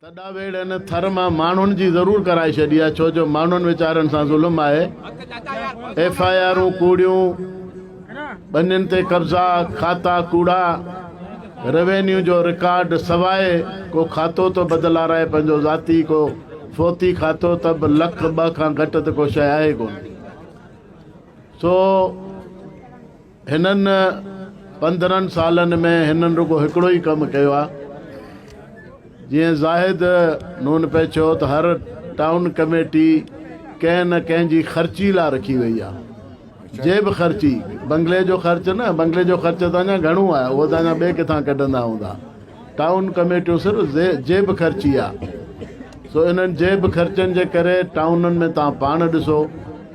تڏا ويڙهه ان ٿر مان ماڻهن جي ضرور ڪرائي ڇڏي آهي ڇو جو ماڻهن ويچارن سان ظلم آهي ايف آء آرون ڪوڙيون ٻنين تي قبضا کاتا ڪوڙا روينيو جو رڪارڊ سواء ڪو کاتو تو بدلارائي پنهنجو ذاتي ڪو فوتي کاتو ته به لک ٻه کان گهٽ ته ڪو شيء آهي ڪونه سو هنن پندرهن سالن ۾ هنن رڳو هڪڙو ئي ڪم ڪيو آ جيئن زاهد نون پئي چيو ته هر ٽائون ڪميٽي ڪنهن نه ڪنهن جي خرچي لا رکي وئي آ جي به خرچي بنگلي جو خرچ نه بنگلي جو خرچ ته اڃا گهڻو آ اهو ته اڃا ٻي ڪٿان ڪڍندا هوندا ٽائون ڪميٽيون صرف جي به خرچي آ سو انهن جي به خرچن جي ڪري ٽائونن ۾ تان پاڻ ڏسو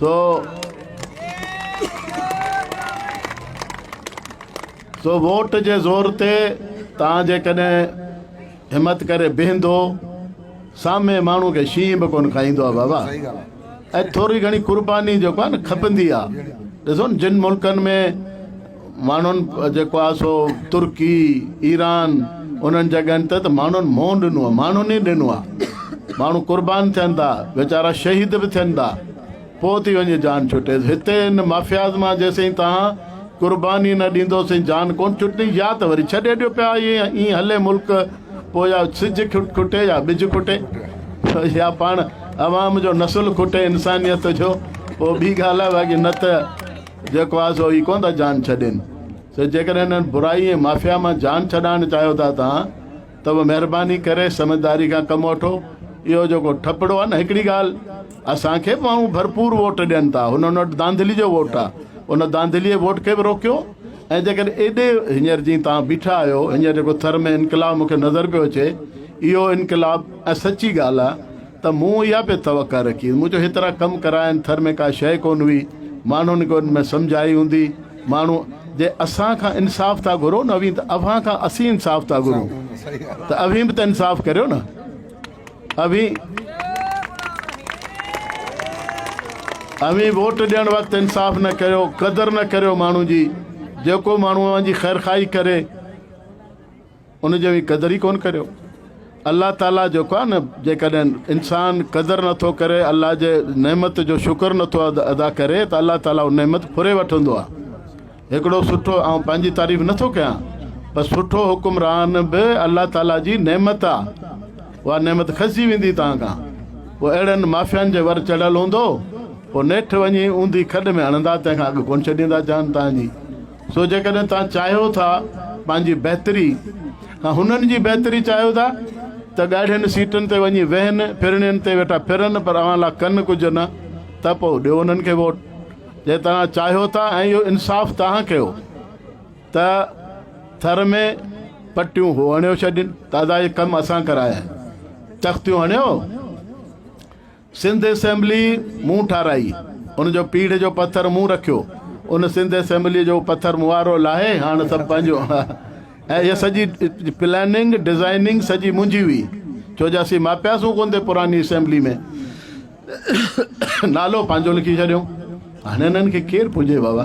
سو سو ووٽ جي زور تي تان جي ڪڏهن همت ڪري بيهندو سامي ماڻو کي شينهن به ڪون کائيندو آ بابا اي ٿوري گھڻي قرباني جو ڪون کپندي آ ڏسون جن ملڪن ۾ ماڻهن جيڪو آهي سو ترڪي ايران انهن جڳهن تي ته ماڻهن منهن ڏنو آهي ماڻهن ئي ڏنو آهي ماڻهو قربان ٿين ٿا ويچارا شهيد به ٿين ٿا پوء ٿي وڃي جان ڇٽي هتي ان مافياز مان جيسين تان قرباني نه ڏيندو سين جان ڪون ڇٽني يا ته وري ڇڏي ڏيو پيا ائين هلي ملڪ پوء يا سج کٽي يا ٻج کٽي يا پاڻ عوام جو نسل کٽي انسانيت جو پوء ٻي ڳالهه آهي باقي نه ته جيڪو آهي سو هي ڪونه ٿا جان ڇڏين سو جيڪڏهن انهن برائي ۽ مافيا مان جان ڇڏائڻ چاهيو ٿا توهان ته به مهرباني ڪري سمجهداري کان ڪم وٺو اهو جيڪو ٺپڙو آهي نه هڪڙي ڳالهه اسان کي به ماڻهو ڀرپور ووٽ ڏين ٿا هن وٽ دانڌلي جو ووٽ آهي ان دانڌلي ووٽ کي به روڪيو ۽ جيڪڏهن ايڏي هينئر جي توهان بيٺا آهيو هينئر جيڪو ٿر ۾ انقلاب مون کي نظر پيو اچي اهو انقلاب ۽ سچي ڳالهه آهي ته مون اها به توقع رکي هئي. مون جو هيترا ڪم ڪرايا آهن، ٿر ۾ ڪا شيء ڪونه هئي، ماڻهن کي ان ۾ سمجهه آئي هوندي. ماڻهو جي اسان کان انصاف ٿا گهرو نه اوهين ته اوهان کان اسين انصاف ٿا گهرون ته اوهين به ته انصاف ڪريو نه اوهين اوهين ووٽ ڏيڻ وقت انصاف نه ڪيو قدر نه ڪريو ماڻهو جي جيڪو ماڻهو اوهان جي خيرخواهي ڪري ان جو به قدر ئي ڪونه ڪريو. الله تعالي جيڪو آهي نه جيڪڏهن انسان قدر نٿو ڪري الله جي نعمت جو شڪر نٿو ادا ڪري ته الله تعالي اها نعمت ڦري وٺندو آهي هڪڙو سٺو آئون پنهنجي تعريف نٿو ڪيان پر سٺو حڪمران به الله تعالي جي نعمت آهي اها نعمت کسجي ويندي تان کان پوء اهڙن مافيان جي ور چڙهيل هوندو پوء نيٺ وڃي اوندي کڏ ۾ هڻندا تنهن کان اڳ ڪونه ڇڏيندا جان تان جي سو جيڪڏهن توهان چاهيو ٿا پنهنجي بهتري ۽ هنن جي بهتري چاهيو ٿا ته ڳاڙهين سيٽن تي وڃي ويهن، ڦرڻين تي ويٺا ڦرن پر اوهان لا ڪن ڪجهه نه ته پوء ڏيو انهن کي ووٽ جي توهان چاهيو ٿا ۽ اهو انصاف توهان ڪيو ته ٿر ۾ پٽيون هو هڻيو ڇڏين، دادا هي ڪم اسان ڪرايا آهن، تختيون هڻيو. سنڌ اسيمبلي مون ٺاراهي، ان جو پيڙهه جو پٿر مون رکيو، ان سنڌ اسيمبليء جو پٿر موارو لاهي هاڻ سڀ پنهنجو ۽ اها سڄي پلاننگ ڊزائننگ سڄي منهنجي هئي ڇو جو اسين ماپياسون ڪونه ٿي پراني اسيمبلي ۾ نالو پنهنجو لکي ڇڏيو هاڻي انهن کي ڪير پونجي بابا.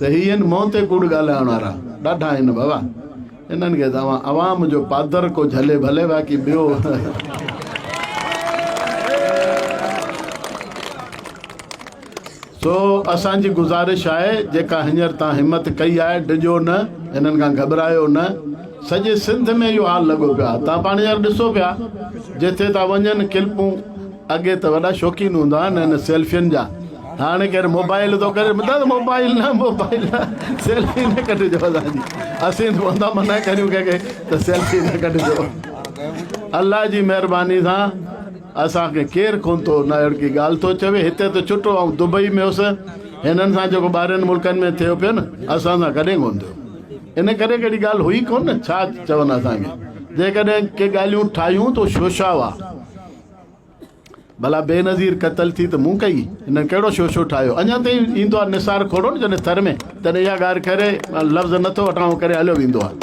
صحيح ان مون تي ڪوڙ ڳالهائڻ وارا ڏاڍا آهن بابا انهن کي ته اوهان عوام جو پادر ڪو جهلي ڀلي باقي ٻيو سو اسان جي گزارش آهي جيڪا هينئر تان همت ڪئي آهي ڊڄو نه انهن کان گهٻرايو نه سڄي سنڌ ۾ اهو حال لڳو پيو آهي تان پاڻ يار ڏسو پيا جتي تا وڃن ڪلپون اڳي ته وڏا شوقين هوندا هن سيلفين جا هاڻي ڪير موبائيل ٿو ڪري مطلب موبائيل نه موبائيل نه سيلفي نه ڪڍجو اسان جي اسين ٿواندا منع ڪريون ڪنهن کي ته سيلفي نه ڪڍجو الله جي مهرباني سان اسان کي ڪير ڪون ٿو نه اهڙي ڪي ڳالهه ٿو چوي هتي ته چٽو آئون دبئي ۾ هوس هنن سان جيڪو ٻاهرين ملڪن ۾ ٿيو پيو نه اسان سان ڪڏهن ڪون ٿيو ان ڪري ڪهڙي ڳالهه هئي ڪون نه ڇا چون اسان کي جيڪڏهن ڪي ڳالهيون ٺاهيون ته شوشا هئا ڀلا بينظير قتل ٿي ته مون ڪئي، هنن ڪهڙو شوشو ٺاهيو. اڃا تائين ايندو آهي نثار کوڙو نه جڏهن ٿر ۾ تڏهن اها ڳالهه ڪري لفظ نه ٿو وٺان اهو ڪري هليو ويندو آهي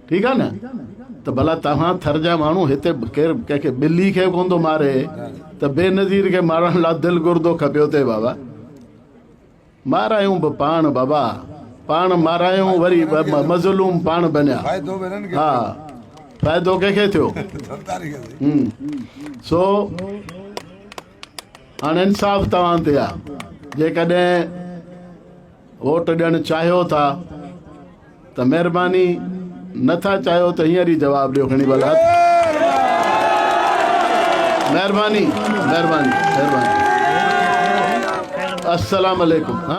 ٺيڪ آهي نه ته ڀلا توهان ٿر جا ماڻهو هتي ڪير ڪنهن کي ٻلي کي ڪون ٿو ماري ته بينظير کي مارڻ لا دل گردو کپيو ٿي بابا. مارايون به پاڻ بابا پاڻ مارايون وري مظلوم پاڻ بنيا ها فائدو ڪنهن کي ٿيو سو هاڻ انصاف توهان تي آ جيڪڏهن ووٽ ڏيڻ چاهيو ٿا ته مهرباني نه ٿا چاهيو ته هينئر ئي جواب ڏيو کڻي ڀلا مهرباني مهرباني مهرباني السلام عليڪم